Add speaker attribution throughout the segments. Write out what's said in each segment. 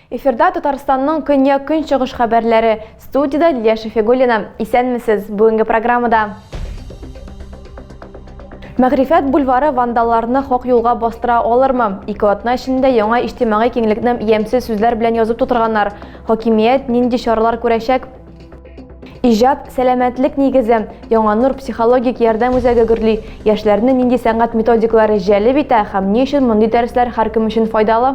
Speaker 1: Эфирда Татарстанның көньяк көнчыгыш хәбәрләре. Студияда Лилия Шефигулина. Исәнмесез. Бүгенге программада Мәгрифәт бульвары вандалларны хак юлга бастыра алырмы? Ике атна эчендә яңа иҗтимагый киңлекне ямьсез сүзләр белән язып тутырганнар. Хакимият нинди чаралар күрәчәк? Иҗат, сәламәтлек нигезе, Яңа нур психологик ярдәм үзәге гөрли. Яшьләрне нинди сәнгать методикалары җәлеп итә һәм ни өчен мондый дәресләр һәркем өчен файдалы?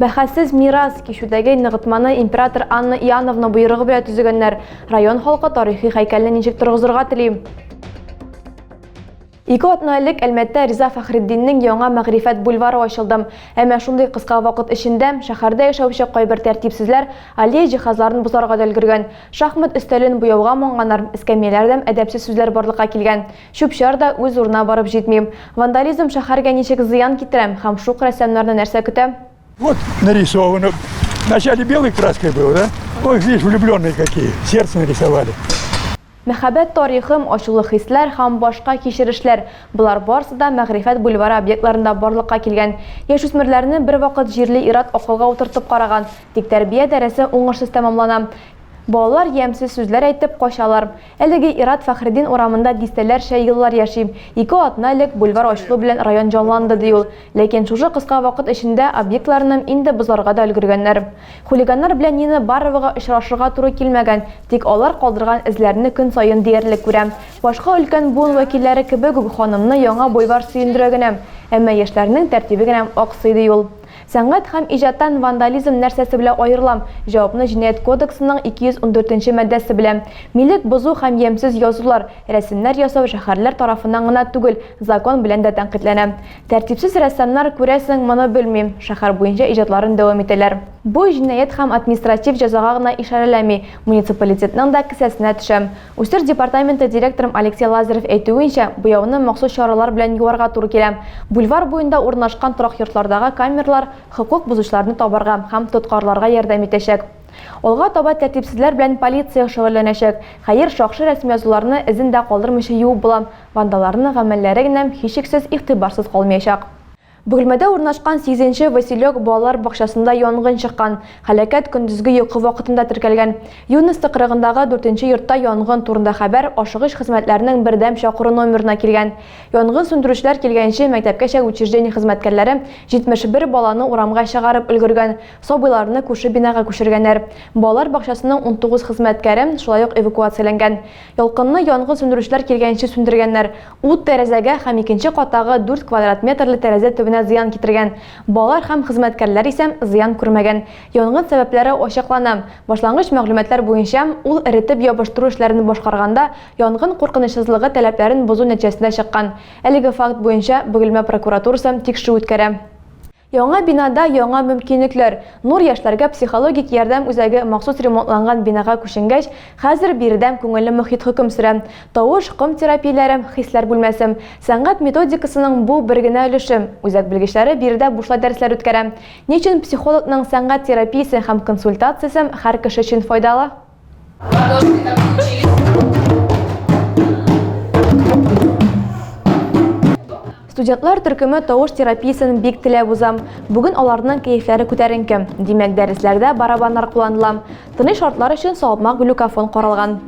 Speaker 1: Бәхәссез мирас, кичүдәге ныгытманы император Анна Иоанновна боерыгы белән төзегәннәр. Район халкы тарихи һәйкәлне ничек торгызырга тели? Ике атна элек Әлмәттә Риза Фәхретдиннең яңа Мәгърифәт бульвары ачылды. Әмма шундый кыска вакыт эчендә шәһәрдә яшәүче кайбер тәртипсезләр аллея җиһазларын бозарга да өлгергән. Шахмат өстәлен буяуга манганнар, эскәмияләрдәм әдәпсез сүзләр барлыкка килгән. Чүп-чар да үз урынына барып җитми. Вандализм шәһәргә ничек зыян китерә һәм шук рәссамнарны нәрсә көтә? Вот
Speaker 2: нарисовано. Вначале белой краской было, да? Ой, видишь, влюбленные какие, сердце нарисовали. Мәхәббәт
Speaker 1: тарихым, ачулы хисләр һәм башка кичерешләр, болар барысы да Мәгърифәт бульвары объектларында барлыкка килгән. Яшүсмерләрне бервакыт җирли ир-ат акылга утыртып караган, тик тәрбия дәресе уңышсыз тәмамлана. Балалар ямьсез сүзләр әйтеп качалар. Әлеге ир-ат Фәхреддин урамында дистәләрчә еллар яши. Ике атна элек бульвар ачылу белән район җанланды, ди ул. Ләкин шушы кыска вакыт эчендә объектларны инде бозарга да өлгергәннәр. Хулиганнар белән Нина Баровага очрашырга туры килмәгән, тик алар калдырган эзләрне көн саен диярлек күрә. Башка өлкән буын вәкилләре кебек үк ханымны Яңа бульвар сөендерә генә, әмма яшьләрнең тәртибе генә аксый, ди ул. Сәнгать һәм иҗаттан вандализм нәрсәсе белән аерыла? Җавапны Җинаять кодексының 214 нче маддәсе белә. Милек бозу һәм ямьсез язулар, Рәсемнәр ясау шәһәрләр тарафыннан гына түгел, закон белән дә тәнкыйтьләнә. Тәртипсез рәссамнар, күрәсең, моны белмим, шәһәр буенча иҗатларын дәвам итәләр. Бу җинаять һәм административ җәзага гына ишарәләми, муниципалитетның да кесәсенә төшә. Үсеш департаменты директорым Алексей Лазарев әйтүенчә, буяуны махсус чаралар белән юарга туры килә. Бульвар буенда урнашкан торак йортлардагы камералар хокук бозучыларны табарга һәм тоткарларга ярдәм итәчәк. Алга таба тәртипсезләр белән полиция шөгыльләнәчәк. Хәер, шакшы рәсмиязуларны эзен дә калдырмыйча юып була, вандалларның гамәлләре генә, һичшиксез, игътибарсыз калмыячак. Бөгелмәдә урнашкан сигезенче Василек балалар бакчасында янгын чыккан. Һәлакәт көндезге йокы вакытында теркәлгән. Юность тыкрыгындагы дүртенче йортта янгын турында хәбәр ашыгыч хезмәтләрнең бердәм чакыру номерына килгән. Янгын сүндерүчеләр килгәнче мәктәпкәчә учреждение хезмәткәрләре 71 баланы урамга чыгарып өлгергән. Сабыйларны күрше бинага күчергәннәр. Балалар бакчасының 19 хезмәткәре шулай ук эвакуацияләнгән. Ялкынны янгын сүндерүчеләр килгәнче сүндергәннәр. Ут тәрәзәгә һәм икенче каттагы 4 квадрат метрлы тәрәзә төбенә зыян китергән. Балалар һәм хезмәткәрләр исә зыян күрмәгән. Янгын сәбәпләре ачыклана. Башлангыч мәгълүматлар буенча, ул эретеп ябыштыру эшләрен башкарганда янгын куркынычсызлыгы таләпләрен бозу нәтиҗәсендә чыккан. Әлеге факт буенча Бөгелмә прокуратурасы тикшерү үткәрә. Яңа бинада яңа мөмкинлекләр. Нур яшьләргә психологик ярдәм үзәге махсус ремонтланган бинага күченгәч, хәзер биредә күңелле мохит хөкем сөрә. Тавыш, ком терапияләре, хисләр бүлмәсе. Сәнгать методикасының бу, бер генә өлеше. Үзәк белгечләре биредә бушлай дәресләр үткәрә. Ни өчен психологның сәнгать терапиясе һәм консультациясе һәр кеше өчен файдалы? Студентлар төркеме тавыш терапиясен бик теләп уза. Бүген аларның кәефләре күтәренке. Димәк, дәресләрдә барабаннар кулланыла. Тыныч шартлар өчен салмак глюкофон каралган.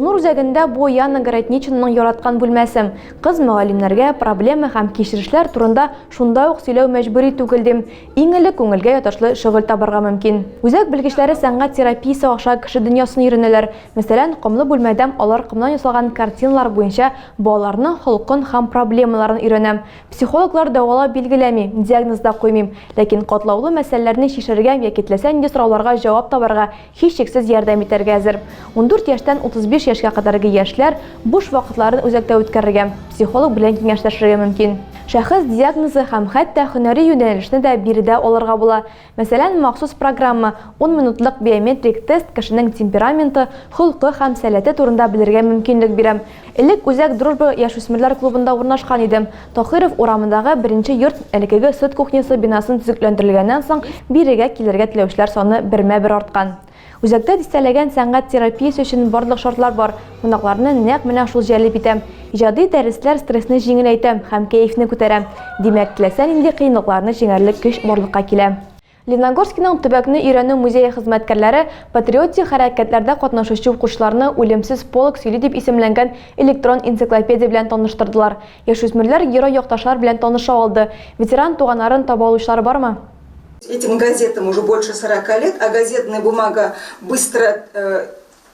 Speaker 1: Нур үзәгендә бу Яна Городничнаның яраткан бүлмәсе. Кыз мөгаллимнәргә проблема һәм кичерешләр турында шунда ук сөйләү мәҗбүри түгел, дим. Иң элек күңелгә ятышлы шөгыль табарга мөмкин. Үзәк белгечләре сәнгать терапиясе аша кеше дөньясын өйрәнәләр. Мәсәлән, комлы бүлмәдә алар комнан ясалган картиналар буенча балаларның холкын һәм проблемаларын өйрәнә. Психологлар дәвалау билгеләми, диагноз да куймый, ләкин катлаулы мәсьәләләрне чишәргә яки теләсә нинди сорауларга җавап табарга һичшиксез ярдәм итәргә әзер. Ундүрт яшьтән 35 яшькә кадәрге яшьләр буш вакытларын үзәктә үткәрергә, психолог белән киңәшләшергә мөмкин. Шәхес диагнозы һәм хәтта һөнәри юнәлешне дә биредә алырга була, мәсәлән, махсус программа, ун минутлык биометрик тест кешенең темпераменты, холкы һәм сәләте турында белергә мөмкинлек бирә. Элек үзәк Дружба яшүсмерләр клубында урнашкан иде. Таһиров урамындагы беренче йорт элекеге сөт кухнясы бинасын төзекләндерелгәннән соң бирегә килергә теләүчеләр саны бермә-бер арткан. Үзәктә дистәләгән сәнгать терапиясе өчен барлык шартлар бар, кунакларны нәкъ менә шул җәлеп итә. Иҗади дәресләр стрессны җиңеләйтә һәм кәефне күтәрә. Димәк, теләсә нинди кыенлыкларны җиңәрлек көч барлыкка килә. Леногорскиның төбәкне өйрәнү музее хезмәткәрләре патриотик хәрәкәтләрдә катнашучы укучыларны Үлемсез полк сөйли дип исемләнгән электрон энциклопедия белән таныштырдылар. Яшүсмерләр герой-якташлар белән таныша алды. Ветеран туганнарын таба алучылар бармы? Этим
Speaker 3: газетам уже больше сорока лет, а газетная бумага быстро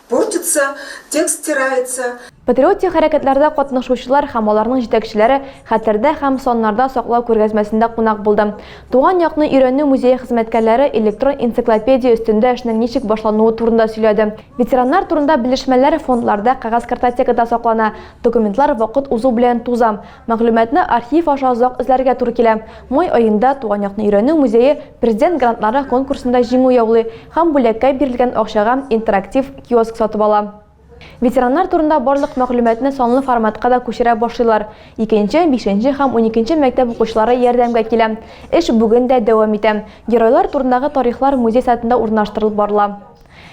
Speaker 3: Портится, текст стирается. Патриотик хәрәкәтләрдә
Speaker 1: катнашучылар һәм аларның җитәкчеләре Хәтердә һәм саннарда саклау күргәзмәсендә кунак булды. Туган якны өйрәнү музее хезмәткәрләре электрон энциклопедия өстендә эшнең ничек башлануы турында сөйләде. Ветераннар турында белешмәләр фондларда, кәгазь картотекада саклана. Документлар вакыт узу белән туза. Мәгълүматны архив аша озак эзләргә туры килә. Май аенда Туган якны өйрәнү музее Президент грантлары конкурсында җиңү яулый һәм бүләккә бирелгән акчага интерактив киоск сатып ала. Ветераннар турында барлык мәгълүматны санлы форматка да күчерә башлыйлар. Икенче, бишенче һәм уникенче мәктәп укучылары ярдәмгә килә. Эш бүген дә дәвам итә. Геройлар турындагы тарихлар музей сайтында урнаштырылып барыла.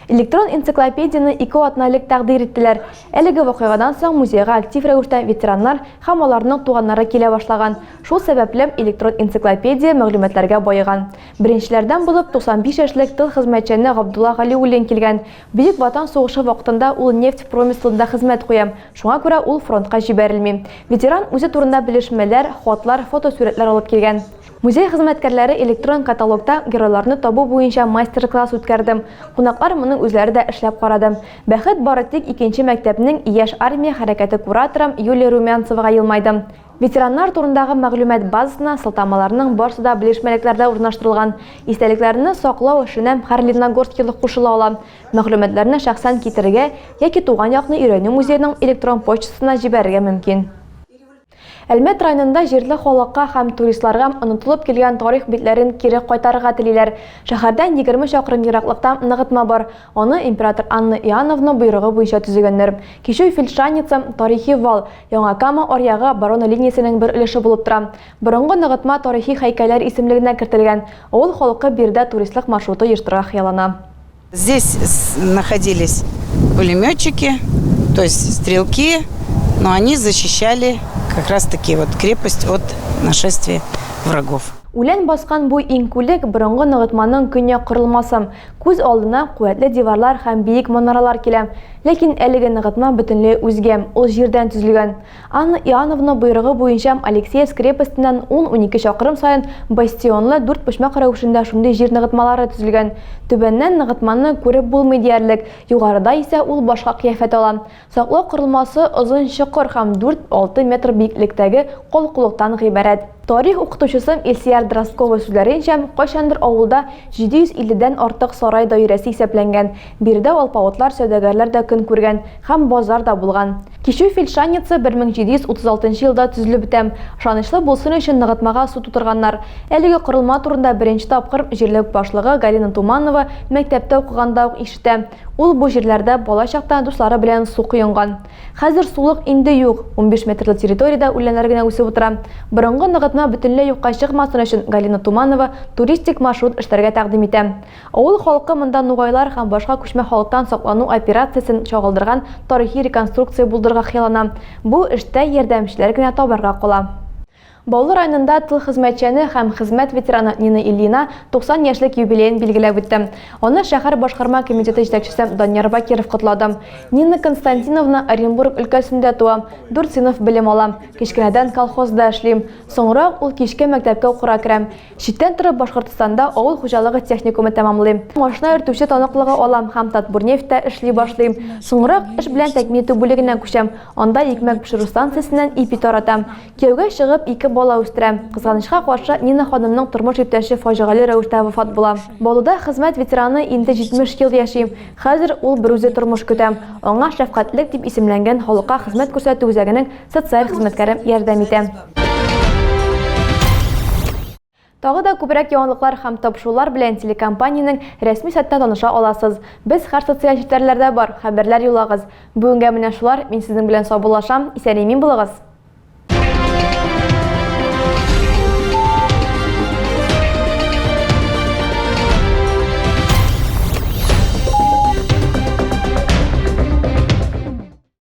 Speaker 1: Электрон энциклопедияне ике атналек тәкъдир иттеләр. Әлеге вакыйгадан соң музейга актив рәвештә ветераннар һәм аларның туганнары килә башлаган. Шул сәбәпле, электрон энциклопедия мәгълүматларга баеган. Беренчеләрдән булып 95 яшьлек тыл хезмәтчәне Габдулла Галиуллин килгән. Бөек Ватан сугышы вакытында ул нефть промыслында хезмәт куя, шуңа күрә ул фронтка җибәрелми. Ветеран үзе турында белешмәләр, хатлар, фотосурәтләр алып килгән. Музей хезмәткәрләре электрон каталогта геройларны табу буенча мастер-класс үткәрде. Кунаклар моның үзләре дә эшләп карады. Бәхет бары тик икенче мәктәпнең Яшь армия хәрәкәте кураторы Юлия Румянцевага елмайды. Ветераннар турындагы мәгълүмат базасына сылтамаларның барсы да белешмәлекләрдә урнаштырылган. Истәлекләрне саклау эшенә һәр лениногорскилы кушыла ала. Мәгълүматларны шәхсән китерергә яки туган якны өйрәнү музееның электрон почтасына җибәрергә мөмкин. Әлмәт районында җирле халыкка һәм туристларга онытылып килгән тарих битләрен кире кайтарырга телиләр. Шәһәрдән егерме чакрым ераклыкта ныгытма бар. Аны император Анна Иоанновна боерыгы буенча төзегәннәр. Кичү Фельдшаница, тарихи вал, Яңа Кама аръягы Барона линиясенең бер өлеше булып тора. Борынгы ныгытма тарихи һәйкәлләр исемлегенә кертелгән. Авыл халкы биредә туристлык маршруты оештырырга хыяллана. Здесь
Speaker 4: находились пулеметчики, то есть стрелки, но они защищали как раз таки вот крепость от нашествия врагов. Үлән баскан
Speaker 1: бу иңкүлек борынгы ныгытманың көньяк корылмасы. Күз алдына куәтле диварлар һәм биек манаралар килә. Ләкин әлеге ныгытма бөтенләй үзгә, ул җирдән төзелгән. Анна Иоанновна боерыгы буенчам Алексеевск крепостеннән ун-унике чакрым саен бастионлы дүрт почмак рәвешендә шундый җир ныгытмалары төзелгән. Түбәннән ныгытманы күреп булмый диярлек, югарыда исә ул башка кыяфәт ала. Саклау корылмасы озын чокыр һәм дүрт-алты метр биеклектәге калкулыктан гыйбарәт. Тарих укытучысым Илсияр Дроздкова сүзләренчә, кайчандыр авылда 750 дән артык сарай даирәсе исәпләнгән. Биредә алпавытлар, сәүдәгәрләр дә көн күргән һәм базар да булган. Кичү фельдшанница 1736 елда төзелеп бетә. Ышанычлы булсын өчен ныгытмага су тутырганнар. Әлеге корылма турында беренче тапкыр җирлек башлыгы Галина Туманова мәктәптә укыганда ук ишетә. Ул бу җирләрдә бала чакта дуслары белән су коенган. Хәзер сулык инде юк, унбиш метрлы территориядә үләннәр генә үсеп утыра. Борынгы ныгытма бөтенләй юкка чыкмасын өчен Галина Туманова туристик маршрут эшләргә тәкъдим итә. Авыл халкы монда нугайлар һәм башка күчмә халыктан саклану операциясен чагылдырган тарихи реконструкция булдырырга хыяллана. Бу эштә ярдәмчеләр генә табарга кала. Баулы районында тыл хезмәтчәне һәм хезмәт ветераны Нина Ильина 90 яшьлек юбилеен билгеләп үтте. Аны шәһәр башкарма комитеты җитәкчесе Данияр Бакиров котлады. Нина Константиновна Оренбург өлкәсендә туа, дүрт сыйныф белем ала. Кечкенәдән колхозда эшли. Соңрак ул кичке мәктәпкә укырга керә. Читтән торып Башкортстанда авыл хуҗалыгы техникумы тәмамлыйм. Машина йөртүче таныклыгы алам һәм Татбурнефтьтә эшли башлыйм. Соңрак эш белән тәэмин итү бүлегенә күчәм, анда икмәк пешерү станциясеннән ипи таратам. Кияүгә чыгып, ике бала үстерәм. Кызганычка каршы, Нина ханымның тормыш иптәше фаҗигале рәвештә вафат була. Баулыда хезмәт ветераны инде 70 ел яши. Хәзер ул берүзе тормыш көтә. Аңа Шәфкатьлек дип исемләнгән халыкка хезмәт күрсәтү үзәгенең Социаль хезмәткәре ярдәм итә. Тагы да күбрәк яңалыклар һәм тапшырулар белән телекомпаниянең рәсми сайтта таныша аласыз. Без һәр социаль челтәрләрдә бар, хәбәрләр юллагыз. Бүгенгә менә шулар, мин сезнең белән саубуллашам, исән-имин булыгыз!